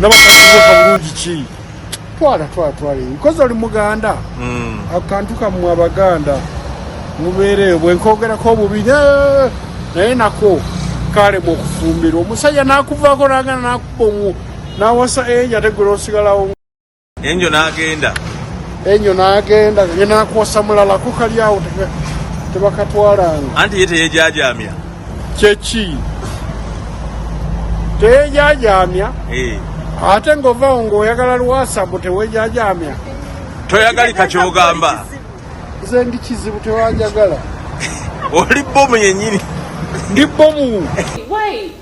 nabakakubuka bulungi ki twala twala twala nkozi oli muganda hmm. akantu kamwe abaganda mubeereyo bwenkogerako obubi naye nako kalemu okufumbirwa omusajja nakuvaako nagana nakuba omu nawasa eja tegula osigalawo enyo nagenda enyo nagenda yenakosa mulala kukali awo tebakatwalanga anti ye teyejajamya kyeki teyejajamya eh. ate ngaovawo ngaoyagala lwasa mbu tewejajamya toyagalika kyogamba nze ndi kizibu tewanjagala oli bomu yenyini ndi bomu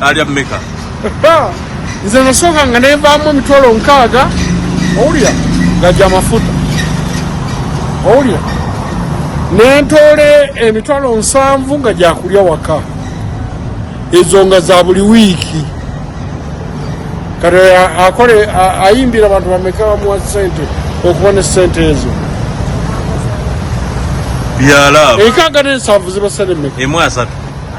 alya meka nze nasooka nga nevaamu emitwalo nkaaga owulira gajja amafuta owulira nentoola emitwalo nsanvu nga gyakulya waka ezo nga za buli wiiki kati akole ayimbira abantu bameka bamuwa sente okuba ne sente ezo byalaba enkaaga nensanvu zibasalemeka emu asatu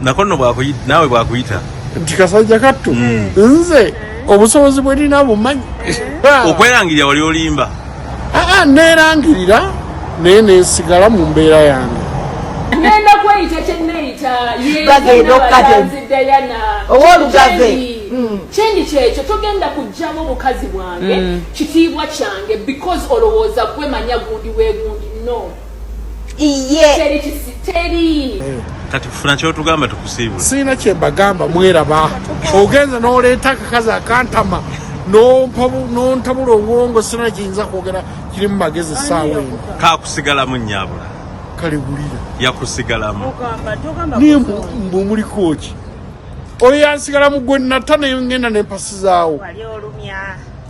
nakonno bwakuyita naawe bwakuyita nti kasajja kattu hmm. nze obusobozi bwerina bumanyi okwerangirira wali olimba aa neerangirira naye nensigala mu mbeera yange nenda kweyita kyeneyita bagenda okukatedayana owolugave hmm. kyendi kyekyo togenda kugjamu obukazi bwange hmm. kitiibwa kyange because olowooza gwemanya gundi wegundi no iye teri kati funa kyotugamba tukusiibula siina kyembagamba mweraba ogenze noleeta akakazi akantama nontabula obwongo sina kiyinza kwogera kirimu magezi saawa eno kakusigalamu nyabula kale bulira yakusigalamu naye mbumuliko ki oyo yansigalamu gwe nata nengenda nempasizaawo